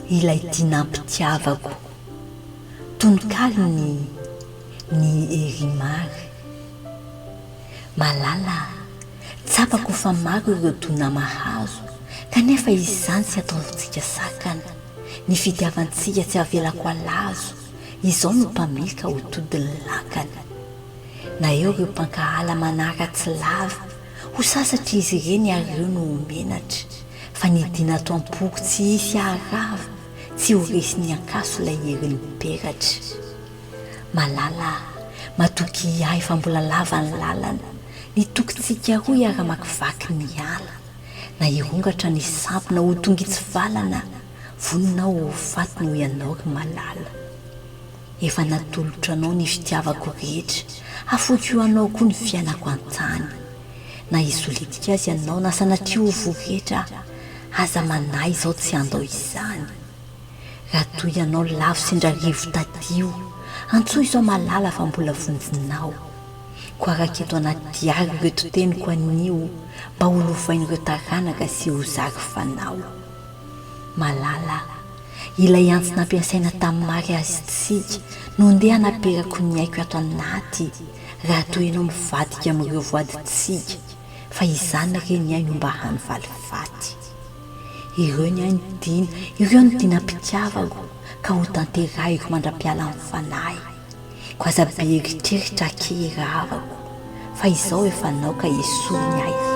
Ilay tia nampitiavako. Tononkalon'i Ny Herimar. Malala a, tsapako fa maro ireo dona mahazo, kanefa izany tsy ataontsika sakana, ny fitiavantsika tsy avelako halazo, Izao no mpamily ka ho todin'ny lakany. Na eo ireo mpankahala manaratsy lava, ho sasatra izy ireny ary ireo no ho menatra, fa ny dina ato am-poko tsy hisy haharava, tsy ho resin'ny ankaso ilay herin'ny peratra. Malala a! Matokia ahy fa mbola lava ny lalana, ny tokintsika roa hiara-makivaky ny ala, na hirongatra ny sampona ho tongitsivalana, Voninao ho faty noho ianao ry malala Efa natolotra anao ny fitiavako rehetra Afoiko ho anao koa ny fiainako an-tany Na hisy letika aza ianao Na sanatria ho voretra Aza manahy izaho tsy handao izany Raha toa ianao lavo sendra rivo tadio Antsoy izao malala fa mbola vonjinao Koa araka eto anaty diary ireto teniko anio Mba ho lovain'ireo taranaka sy ho zary fanao Malala, ilay antsy nampiasaina tamin'ny mariazintsika, no ndeha hanaperako ny aiko ato anaty raha toa ianao mivadika amin'ireo voadintsika, fa izany re ny ahy no mba hany valifaty. Ireo ny ahy no tiana, ireo no tena mpitiavako, ka hotanterahiko mandra-pialan'ny fanahy. Ko aza be eritreritra akia i rahavako fa izao efa naoka esory ny ahiahy.